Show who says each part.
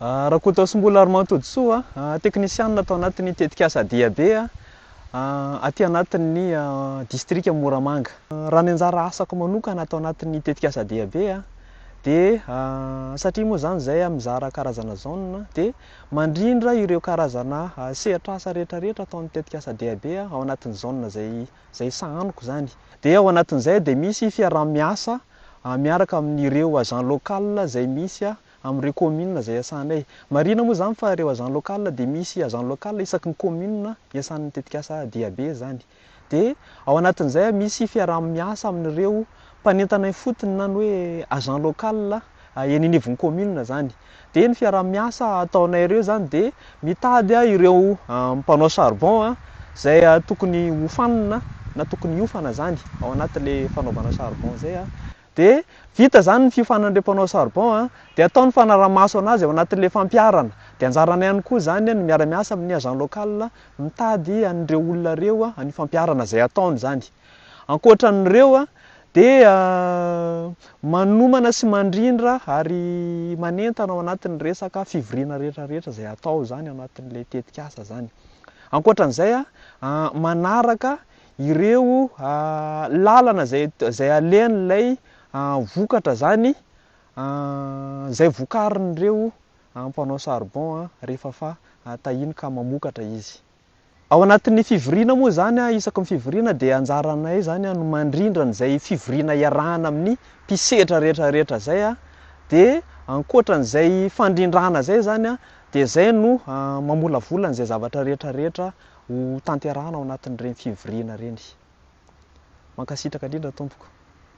Speaker 1: Rakotoasimbola Arimahatodisoa, teknisianina tao anatin'ny tetikasa Diabe aty anatin'ny distrika Moramanga. Raha ny anjara asako manokana ato anatin'ny tetikasa Diabe dia satria moa izany izahay mizara karazana zone dia mandrindra ireo karazana sehatr'asa rehetrarehetra ataon'ny tetikasa Diabe ao anatin'ny zone izay izay sahaniko izany. Dia ao anatin'izay dia misy fiaraha-miasa miaraka amin'ireo agent local izay misy amin'ireo kaominina izay iasanay. Marihina moa izany fa ireo agents locales dia misy agents locales isaky ny kaominina iasan'ny tetikasa DAB izany. Dia ao anatin'izay misy fiaraha-miasa amin'ireo mpanentana ifotony na ny hoe agents locales eny anivon'ny kaominina izany. Dia ny fiaraha-miasa ataonay ireo izany dia mitady ireo mpanao charbon izay tokony hofanina na tokony hiofana izany ao anatin'ilay fanaovana charbon izay. Dia vita izany ny fiofanan'ny ireo mpanao charbon a, dia atao ny fanarahamaso anazy ao anatin'ilay fampiharana. Dia anjaranay ihany koa izany ny miara miasa amin'ny agent local mitady an'ireo olona ireo an'io fampiharana izay ataony izany. Ankoatran'ireo dia manomana sy mandrindra ary manentana ao anatin'ny resaka fivoriana rehetra rehetra izay atao izany ao anatin'ilay tetikasa izany. Ankoatran'izay manaraka ireo lalana izay izay alehan'ilay vokatra izany izay vokarin'ireo mpanao charbon rehefa fa tahiny ka mamokatra izy. Ao anatin'ny fivoriana moa izany, isaky ny fivoriana dia anjaranay izany no mandrindra an'izay fivoriana iarahana amin'ny mpisedra rehetra rehetra izay dia ankoatran'izay fandrindrana izay izany dia izay no mamolavola an'izay zavatra rehetra rehetra ho tanterahana ao anatin'ireny fivoriana ireny. Mankasitraka indrindra tompoko.